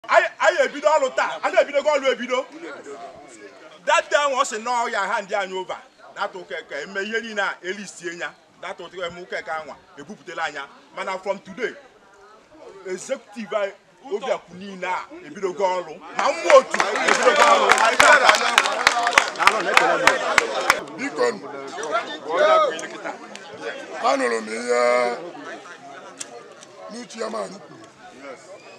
anyị ebido ọrụ taa a na-ebidogo ọrụ ebido tata ahụ ọ sị na ọ ya-hand anyị over tata ụka Eke e mee ihe niile a elisie nya tata ụka eme ụka Eke anwa ebupụtala anya mana from today executive anyị obiakwu niile a ebidogo ọrụ na ụmụ otu ebidogo ọrụ biko anụrụ m ihe n'uche ya ma anyị kwuru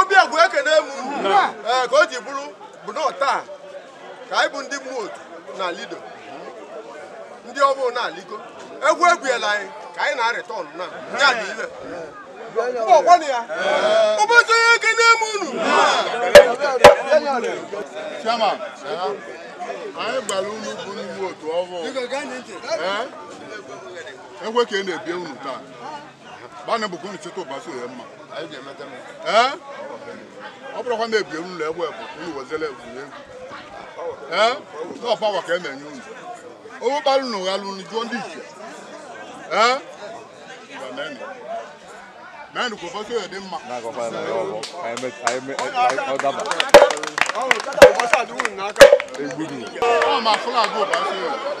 Obiakwu ekene m ee ka o ji bụrụ bụ na taa ka anyị bụ ndị ụmụ otu na lido ndị ọbụụ na-aliko egwu egwuela anyị ka anyị na-arịtọn na ya dị ibe ọgwana ya Ubasioye ekene m unu Chairman, anyị gbara unu bụ ụmụ otu ọhụụ. Ee? Egwe ka ị na-ebie unu taa. gbanụ mbọ ka unu cheta Ubasioye mma ee ọ bụrụkwa na ebiere unu egbe bụ ka unu wezere egwuregwu ee ọ power ka a na-enye unu owu gbara unu ghalị unu jụọ ndị ichie ee ngwa meenụ meenụ ka Ubasioye dị mma ọ ma fụlagụ Ubasioye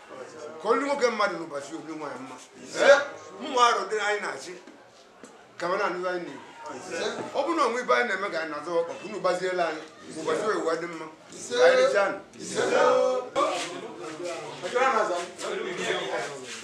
ka o lu nwoke mmadụ n'ụbọchị o lu nwaanyị mma mụ arịọ ndị anyị na-achị ka ọ na-anụ anyị na-ekwu ọ bụrụ na o nwee ebe anyị na-eme ka anyị na-azọ ọkpa ka unu gbazielụ anyị ka Ubasioye a dị mma ka anyị richanụ Thank you.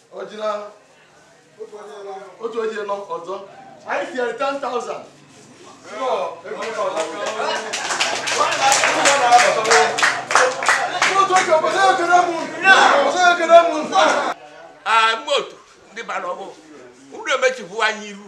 otu onye nọ ọzọ anyị tinyere 10,000 mgbe otu ndị bara ọgụ unu emechibu anyị iru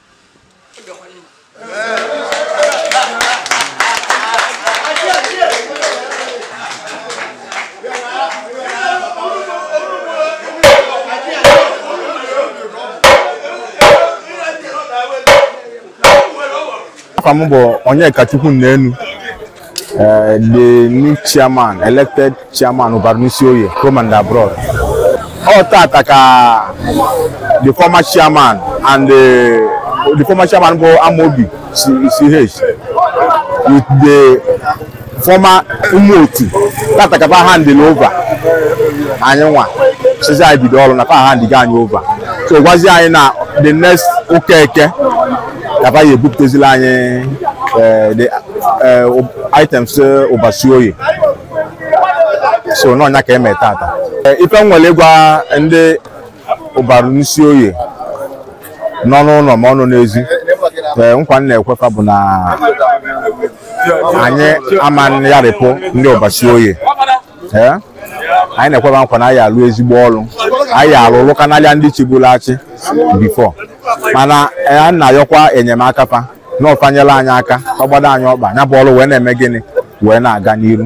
afa m bụ Onyekachukwu Nnenu Uh, the new chairman, elected chairman Ubarunisioye, home and abroad. Ọ tata ka the former chairman and the, the former chairman bụ Amaobi CH with the former ụmụ otu. Tata ka pa handle over. Anyị nwa. Sịzị anyị bido ọrụ na pa handlego anyị over. Ọ gwazi anyị na the next ụka Eke ka fa ya-ebupụtazila anyị eh, the eh, ub- items eh, Ụbarụ Isioye so na-enye aka eme taata Eh, ife m nwere ịgwa ndị Ụbarụ n'Isioye nọ n'ụlọ ma ọ nọ n'ezi ee nkwa m na-ekwe fa bụ na anyị ama yarịpụ ndị Ụbarụ Isioye ee anyị na-ekwe fa nkwa na anyị arụ ezigbo ọlụ anyị arụ ọlụ kanalịa ndị chịburu achị before mana anyị na-ayọkwa enyemaka fa na ọ fa nyela anyị aka agbado anyị ọkpa ya bụ ọrụ wee na-eme gịnị wee na-aga n'iru